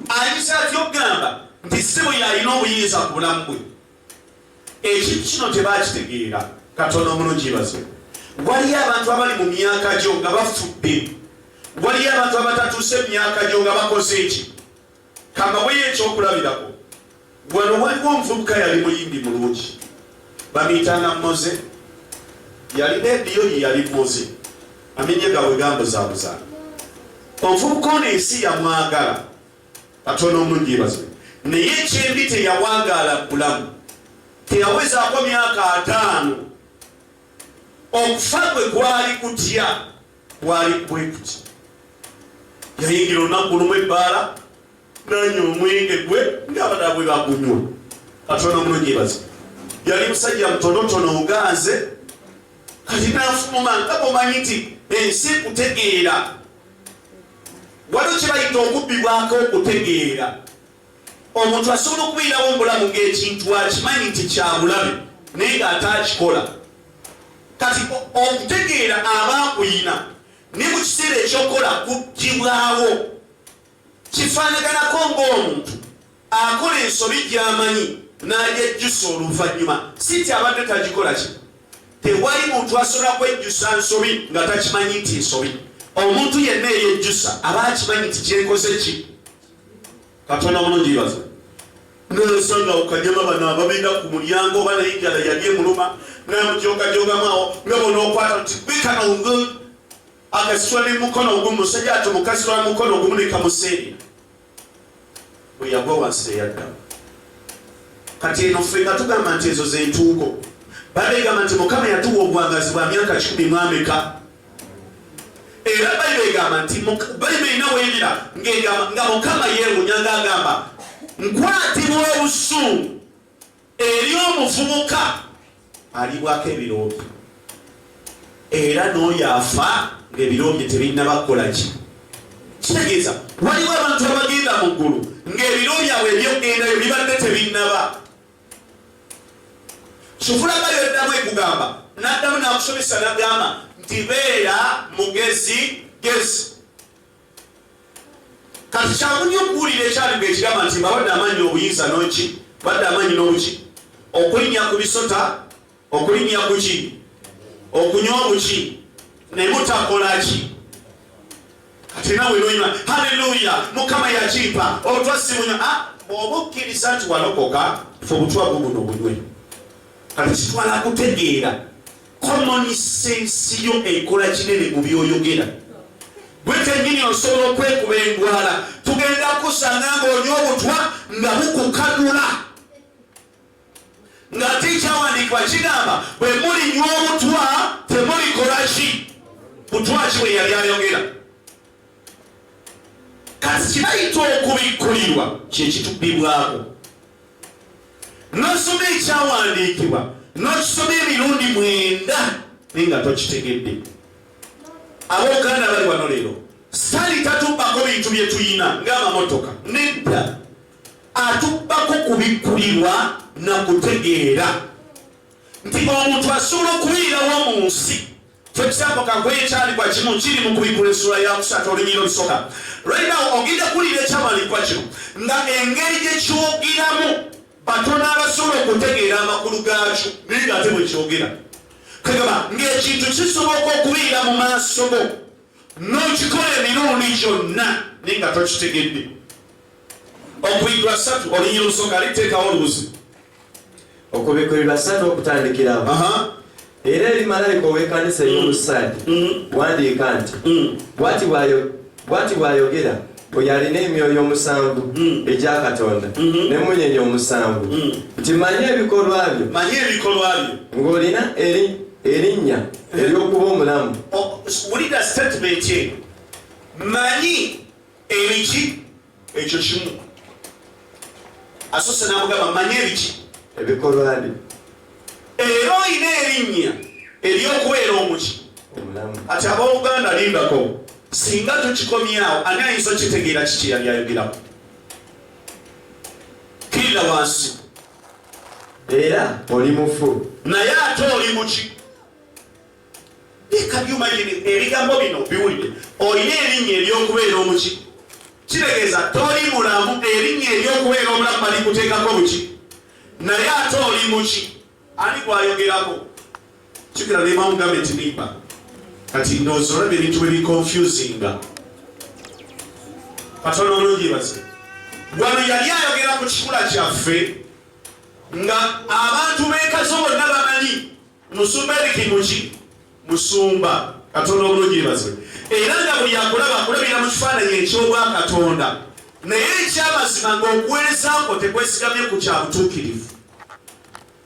ayinza atya okugamba nti ssimu yalina obuyinza ku bulamu bwe ekintu kino tebakitegeera katonda omulungi baze waliyo abantu abali mu myaka gyo nga bafudde waliyo abantu abatatuuse mu myaka gyo nga bakoze eki kambaweyo ekyokulabirako Wano waliwo omuvubuka yali muyimbi mulungi bamuyitanga Moze, yalina ediyo ye yali Moze, amenya gawe gambuzabuza. Omuvubuka ono ensi yamwagala katono omulungi yebaze, naye ekyembi teyawagaala bulamu, teyawezaako myaka ataano okufa gwe gwali kutya bwali bwekuti yayingira olunaku lumu ebbaala nanya omwenge gwe ng'abadala bwe bagunywa katonda omulonyebazi yali musajja mutonotono oganze kati nafuluma nga bomanyi nti ensi kutegeera waliwo kyebayita okubbibwako okutegeera omuntu asobola okubeerawo mubulamu ngaekintu akimanyi nti kyabulabe naye ng'ate akikola kati okutegeera aba akuyina ne mu kiseera ekyokukola kuggibwawo Kifaanaganako ng'omuntu akola ensobi gy'amanyi n'agyejjusa oluvannyuma, si nti abadde tagikola ki. Tewali muntu asobola kwejjusa nsobi nga takimanyi nti nsobi. Omuntu yenna eyejjusa aba akimanyi nti kyenkoze ki. Katonda mulungi ibaza nosanga okanyama bano ababinda ku mulyango oba naye enjala yali emuluma namujogajogamu awo nga bona okwata nti bikana akasitula ne mukono ogumu musajja ati mukasitula mukono ogumu ne kamuseenya bwe yagwa wansi teyaddamu kati eno ffe nga tugamba nti ezo zentuuko balegamba nti mukama yatuwa obwangazi bwa myaka kikumi mwameka era bayibuli egamba nti bayibuli erina weyira nga mukama yeewunya nga agamba nkwatibwa obusungu Eri omuvubuka alibwako ebiroobi era n'oyo afa ng'ebiroobi tebinnaba kukola ki kitegeeza waliwo abantu abagenda mu ggulu ng'ebiro byabwe ebyokugendayo bibadde tebinnaba kifulaga yoddamu ekugamba n'addamu n'akusomesa n'agamba nti beera mugezi gezi kati kyangu nnyo okuwulira ekyaliga ekigamba nti mbabadde amannyi obuyinza noki badde amannyi n'obuki okulinnya ku bisota okulinnya ku ki okunywa obuki naye mutakola ki kati nawe noima haleluya mukama yakimpa obutwa simunywa ah, bwoba okkiriza nti walokoka fe obutwa bubuno bunywe kati kitwala kutegeera common sense yo ekola kinene mu byoyogera gwe kenyini osobola okwekuba endwala tugenda kusanga ngaonya obutwa nga bukukadula nga ate ekyawandiikibwa kigamba bwe mulinywa obutwa temulikolaki butwaki bwe yali ayogera kati kibayita okubikkulirwa kyekitubibwako nosoma ekyawandiikibwa nokisoma emirundi mwenda naye nga tokitegedde abouganda bali wano leero sali tatubbako bintu byetuyina ngaamamotoka nedda atubbako kubikkulirwa nakutegeera nti omuntu asobola okubirirawo mu nsi Kyo kisaako kagwe ekyandikwa kimu kiri mu kubikkula essula ya kusatu olunyira olusoka. Right now ogenda kuwulira ekyamalinkwa kino nga engeri gye kyogeramu batono abasobola okutegeera amakulu gaakyo naye nga ate bwe kyogera kagaba ng'ekintu kisoboka okubeera mu maaso go n'okikola emirundi gyonna naye nga tokitegedde okuyigwa satu olunyira olusoka liteekawo olubuzi okubikurirwa satu okutandikirawo era eri malayika ow'ekanisa ey'omu saadi mm-hmm. wandiika nti mm. bwati bw'ayogera oyo alina emyoyo omusanvu mm. egya katonda mm-hmm. n'emunyenyi omusanvu mm. nti manye ebikolwa byo manye ebikolwa byo ng'olina eri erinnya ery'okuba omulamu wulira sitatimenti eno manyi ebiki ekyo kimu asose namugamba manya ebiki ebikolwani era olina erinnya eryokubeera omuki ati abooluganda lindako singa tukikomyawo ani ayinza okitegeera kiki yali ayogerako kirira wansi era oli mufu naye ate oli muki ebigambo bino biwulire olina erinnya ery'okubeera omuki kitegeeza toli mulamu erinnya ery'okubeera omulamu balikuteekako buki naye ate oli muki ani gwayogerako kikira nemamu gavumenti nimba kati ndowooza olaba ebintu bwe bikonfusinga katonda omulungi baze wano yali ayogera ku kikula kyaffe nga abantu bekazo bonna bamanyi Musumba Eric Muki musumba Katonda obulungi yebazibwe era nga buli akulaba akulabira mu kifaananyi eky'obwa Katonda naye ekyamazima ng'okuweereza kwo tekwesigamye ku kya butuukirivu